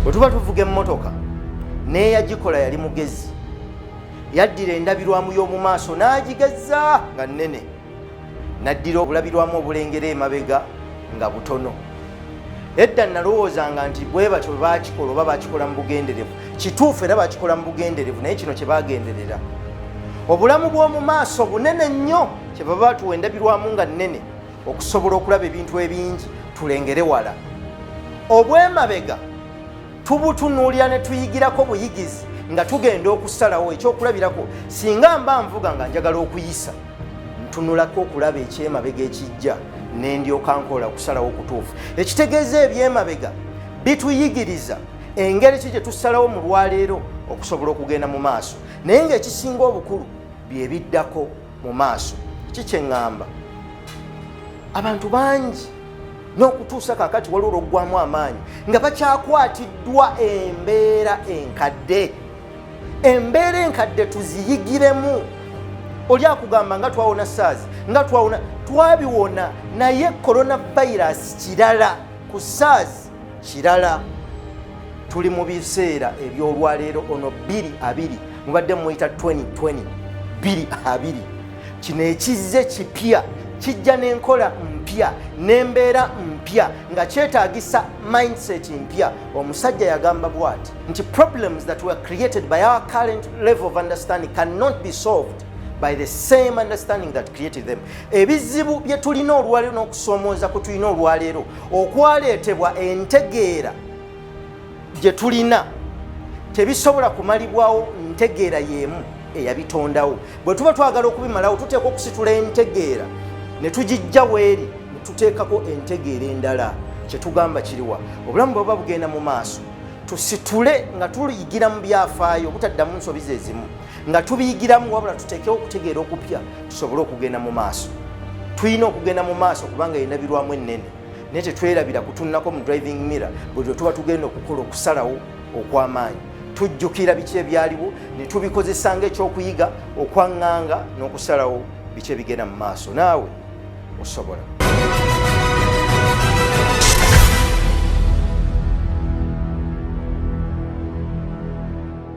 bwe tuba tuvuga emmotoka n'eyagikola yali mugezi yaddira endabirwamu y'omu maaso n'agigezza nga nnene naddira obulabirwamu obulengera emabega nga butono edda nalowoozanga nti bwe batyo bwe bakikola oba bakikola mu bugenderevu kituufu era bakikola mu bugenderevu naye kino kye bagenderera obulamu bw'omu maaso bunene nnyo kye baba batuwa endabirwamu nga nnene okusobola okulaba ebintu ebingi tulengere wala obwemabega tubutunuulira ne tuyigirako buyigizi nga tugenda okusalawo ekyokulabirako singa mba nvuga nga njagala okuyisa ntunulako okulaba ekyemabega ekijja nendyoka nkola okusalawo kutuufu ekitegeeza ebyemabega bituyigiriza engeri ki gye tusalawo mu lwaleero okusobola okugenda mu maaso naye ngaekisinga obukulu bye biddako mu maaso kikyeŋŋamba abantu bangi n'okutuusa kakati waliwo lwoggwamu amaanyi nga bakyakwatiddwa embeera enkadde embeera enkadde tuziyigiremu oli akugamba nga twawona sars nga twawona twabiwona naye corona virus kirala ku sars kirala tuli mu biseera ebyolwaleero ono 22 mubadde muyita 2020 22 kino ekizze kipya kijja n'enkola mpya n'embeera mpya nga kyetaagisa mindset mpya omusajja yagamba bwati nti problems that were created by our current level of understanding cannot be solved by the same understanding that created them ebizibu bye tulina olwaleero n'okusoomooza kwe tulina olwaleero okwaleetebwa entegeera gye tulina tebisobola kumalibwawo ntegeera y'emu eyabitondawo bwe tuba twagala okubimalawo tuteekwa okusitula entegeera ne tugijja weeri ne tuteekako entegeera endala kye tugamba kiriwa obulamu bwe buba bugenda mu maaso tusitule nga tuyigira mu byafaayo obutaddamu nsobi ze zimu nga tubiyigiramu wabula tuteekewo okutegeera okupya tusobole okugenda mu maaso tulina okugenda mu maaso kubanga yina birwamu ennene naye tetwerabira kutunako mu driving mirror buli lwe tuba tugenda okukola okusalawo okw'amaanyi tujjukira biki ebyaliwo ne tubikozesa ng'ekyokuyiga okwaŋŋanga n'okusalawo biki ebigenda mu maaso naawe osobola